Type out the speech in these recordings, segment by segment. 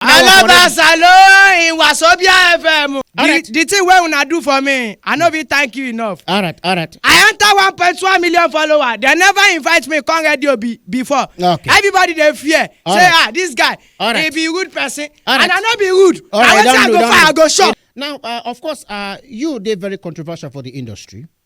I love us alone in Wasobia FM. Alright. The, the thing wey una do for me, I no fit thank you enough. alright alright I enter one point one million follower. They never invite me come radio be, before. Okay. Everybody dey fear. All Say right. ah this guy, All he right. be rude person. All And right. I no be rude. All right, I wetin I don't go do, don't find, I do. go shop. now uh, of course uh, you dey very controversial for the industry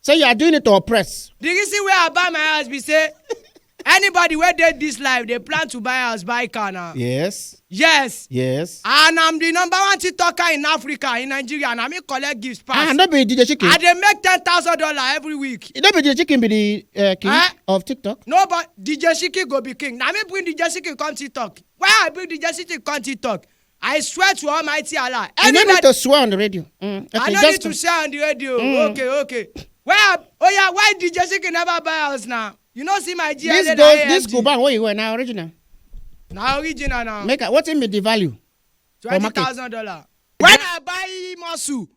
Say you are doing it to oppress. the reason wey i buy my house be say anybody wey dey this life dey plan to buy house buy car na Yes. yes Yes. and i'm the number one tiktoker in africa in nigeria na me collect gifts Ah, pass no be DJ Chicken. i dey make ten thousand dollar every week No be DJ Chicken be the uh, king Eh? of TikTok. no but dj shiki go be king na me bring dj shiki come tiktok why i bring dj shiki come tiktok I swear to Almighty Allah. You no need Anybody, to swear on the radio. Mm, I okay, no need just to share on the radio. Mm. Okay, okay. Where? Oh yeah, why DJ Shiki never buy house now? You no see my GLA this na goes this AMG. Cuban wey you wear na original. Na original now. Make I, wetin be the value? for Twenty market. thousand dollar. When I buy muscle,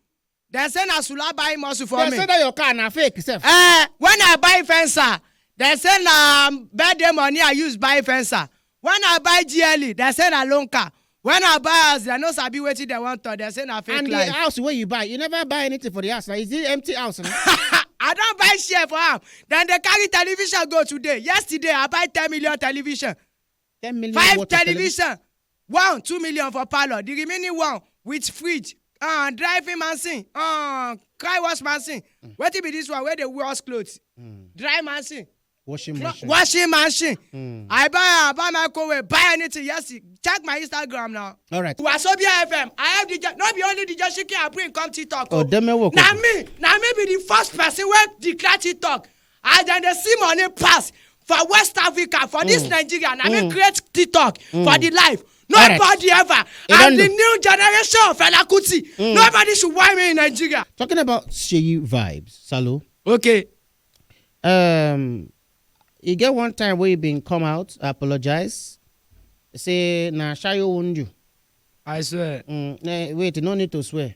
Dem say na sula buy muscle for Dem me. say that your car na fake sef. Eh, when I buy fencer, dem say na birthday money I use buy fencer. When I buy GLE, dem say na loan car. When I buy house, dem no sabi wetin dem wan talk. Dem say na fake and the life. house wey you buy you never buy anything for the house na is it empty house na. I don buy share for am. Dem dey carry television go today. Yesterday, I buy ten million television. 10 million five worth of television. television one two million for parlour the remaining one with fridge uh, driving machine uh, car wash machine mm. wetin be this one wey dey wash cloth mm. dry machine washing Clo- machine. washing machine mm. i buy i buy microwave buy anything yes check my instagram now. all right. wasobia fm i have the no be only the joshiki i bring come tiktok o. Oh. odemewo koko na me na me be the first person wey declare tiktok as dem dey see money pass for west africa for dis nigeria na me create tiktok for di life Correct. nobody ever E don and di do. new generation of fela kuti nobody should whine me in nigeria Talking about Sheyi vibes, Salo. okay Um, e get one time wey he bin come out apologize say na shayo wound you. i swear Mm, eh, wait, you no need to swear.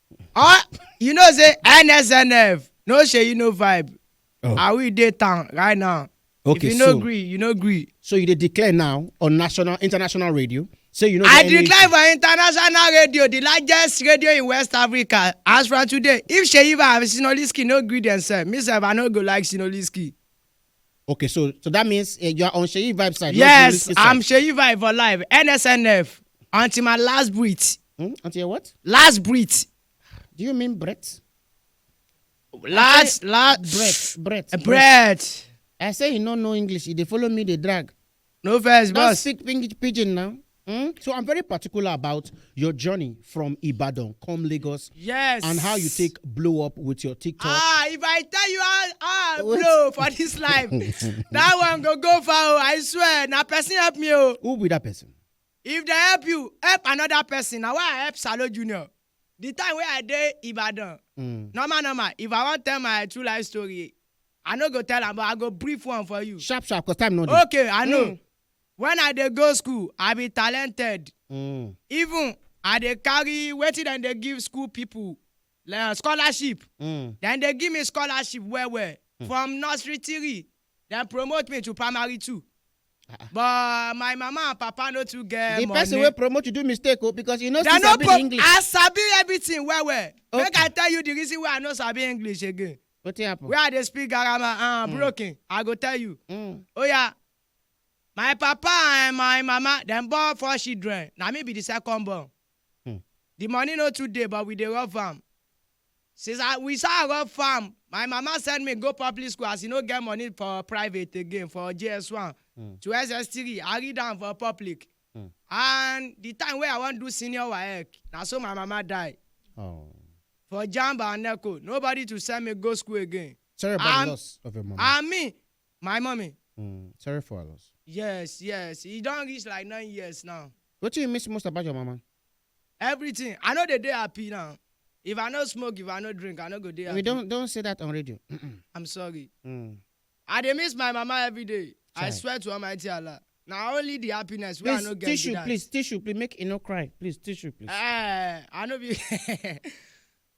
Ah, you know say NSNF no shey no vibe. Oh. Are we dey town right now? Okay, if you no so, gree, you no gree. So you dey declare now on national international radio say you no. I declare for international radio the largest radio in West Africa as from today if Seyi Vibes Sinoliski no gree themselves me sef I no go like Sinoliski. Okay, so so that means uh, you are on Sheyi Vibe side. not yes Bobrisky side. i'm seyi vibe for life nsnf until my last breath Hmm? Until your what? last breath Do you mean breath? last last Breath, breath, breath I say you no know English. You dey follow me, dey drag. No vex, Don't boss. speak pidgin- pidgin now. Hmm? So I'm very particular about your journey from Ibadan come Lagos Yes. and how you take blow up with your TikTok. Ah, if I tell you how how I blow for this life, that one go go far. oh, I swear. Now person help me. Oh. Who be that person? If they help you, help another person. Now why I help Salo Junior? The time wey I dey Ibadan, normal normal if I wan tell my true life story, I no go tell am but I go brief one for you. Sharp sharp cause time no dey. Okay, I know. Mm. When I dey go school, I be talented. Mm. Even I dey carry wetin dem dey give school people like scholarship. Mm. Dem dey give me scholarship well well. From nursery three Dem promote me to primary two but my mama and papa no too get the money. person wey promote you do mistake o because you no still Dem no sabi the pro- english I sabi everything well well. Make Okay. I tell you the reason why I no sabi English again. wetin happen. Where I dey speak garama uh, broken, I go tell you. Mm. Oya, my papa and my mama dem born four children. Na me be the second born. The money no too dey but we dey rough am Since I we sha rough am My mama send me go public school as e no get money for private again for JS one to SS three I read am for public And the time wey I wan do senior waec Na so my mama die For jamb and neco Nobody to send me go school again Sorry about the I'm- loss of your mama. I mean My mommy. Hmm, sorry for her loss. Yes, yes. E don reach like nine years now. Wetin you miss most about your mama? Everything. I no dey dey happy now. If I no smoke, if I no drink, I no go dey happy. We don't don't say that on radio. I'm sorry. Hmm. I dey miss my mama every day. I Chai. swear to Almighty Allah. Na only the happiness wey I Please no get be tissue, that. please tissue, please make e no cry. Please tissue, please. Eh, I no be.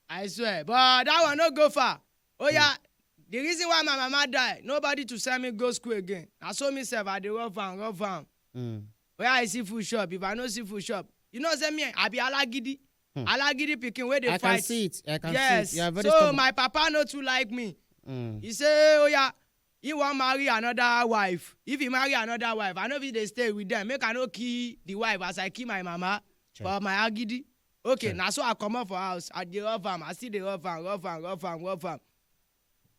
I swear, but that one no go far. Oya, the reason why my mama die, nobody to send me go school again. Na so me sef I dey rough am, rough am. Mm. Where I see food shop, if I no see food shop, you know say me, I be alagidi. Hmm. Alagidi pikin wey dey I fight. can see it. I can yes. see it. You are very so stubborn. my papa no too like me. Mm. He say, oh yeah, he wan marry another wife. If he marry another wife, I no fit dey stay with them. Make I no kill the wife as I kill my mama Sure. for my agidi. okay na so i comot for house i dey rough am i still dey rough am rough am rough am rough am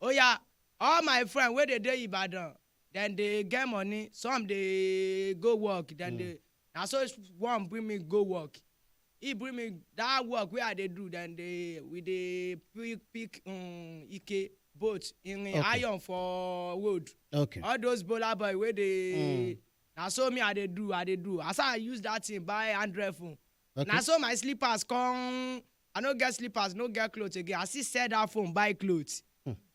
oya all my friend wey dey dey ibadan dem dey get money some dey go work dem dey na so one bring me go work he bring me that work wey i dey do dem dey we dey pick pick um, ike boat irin Okay. iron for road okay all those bola boy wey dey na so me i dey do i dey do as i use that thing buy android phone Okay. Na so my slippers come, I no get slippers, no get cloth again. I still sell that phone, buy cloth.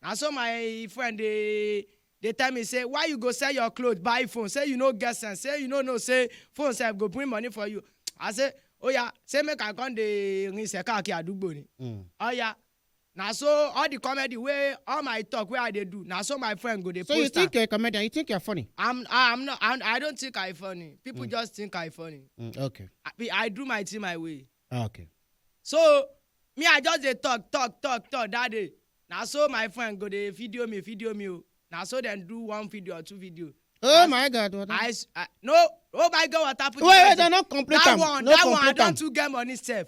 Na so my friend dey dey tell me say, why you go sell your cloth, buy phone? Say you no get sense, say you no know say phone sef go bring money for you. I say, oya, say make I come dey rinse kakiri adugbo ni. Mm. Oya, Na so all the comedy wey all my talk wey I dey do, na so my friend go dey So you post am. think you're a comedian? You think you're funny? I'm I- I'm not I'm, I don't think I funny. People Mm. just think I funny. Mm, okay. I, be- I do my thing my way. Ah, okay. So me I just dey talk talk talk talk that day. Na so my friend go dey video me video me o. Na so dem do one video or two video. Oh That's- my God. What I, s- I no oh my God what happen? wait, wait, no, complete that am. one no, that one I complete am. don too get money sef.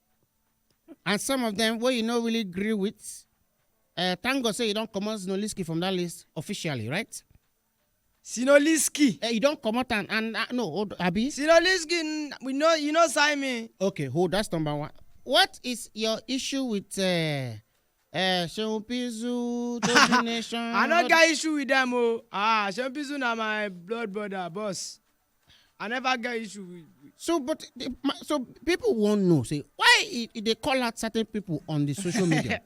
and some of them wey you no really gree with uh, thank god say you don comot zinoliski from that list officially right Sinoliski. uh, you don comot am and uh, no hold abi Sinoliski, n- we know you know sign me. okay hold that's number one what is your issue with uh, Eh, Seun Pizu, Tobi Nation. I no get issue with them o. Ah, Seun Pizu na my blood brother, boss. I never get issue with. with- So, but the, my, so people won't know. Say why e e dey call out certain people on the social media.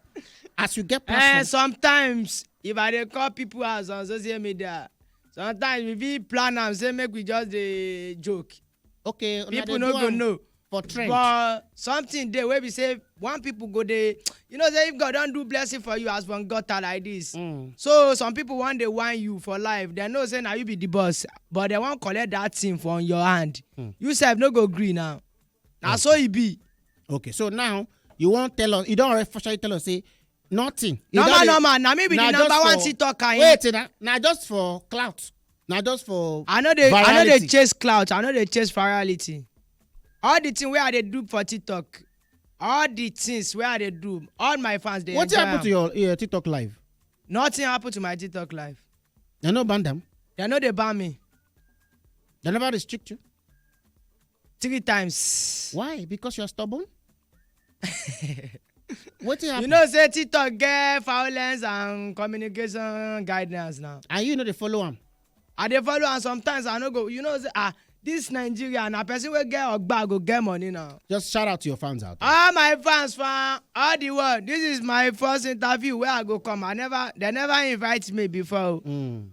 As you get Eh, platform, sometimes if I dey call people out on social media, sometimes we fit plan am say make we just dey joke. okay una dey people no do go am know for trend but something dey wey be say one people go dey you know say if god don do blessing for you as one gutter like this Mm. so some people wan dey whine you for life dem know say na you be the boss but dem wan collect that thing from your hand Hmm. you sef no go gree now na so e be okay so now you wan tell us you don already officially tell us say nothing You normal don dey- normal na me be na the just number one for- tiktoker in wait na na just for clout na just for i no dey i no dey Virality. chase clout i no dey chase virality all the thing wey i dey do for tiktok all the things wey i dey do all my fans dey wetin enjoy happen to am your uh, tiktok live nothing happen to my tiktok life dem no ban dem they no dey ban me dem never restrict you three times. why because you're stubborn wetin you happen know say tiktok get violence and communication guidance now. and you no dey follow am i dey follow am sometimes i no go you know say ah this nigeria na person wey get ogba go get money now. just shout out to your fans out there. all my fans fan all the world this is my first interview wey i go come i never they never invite me before o. Mm.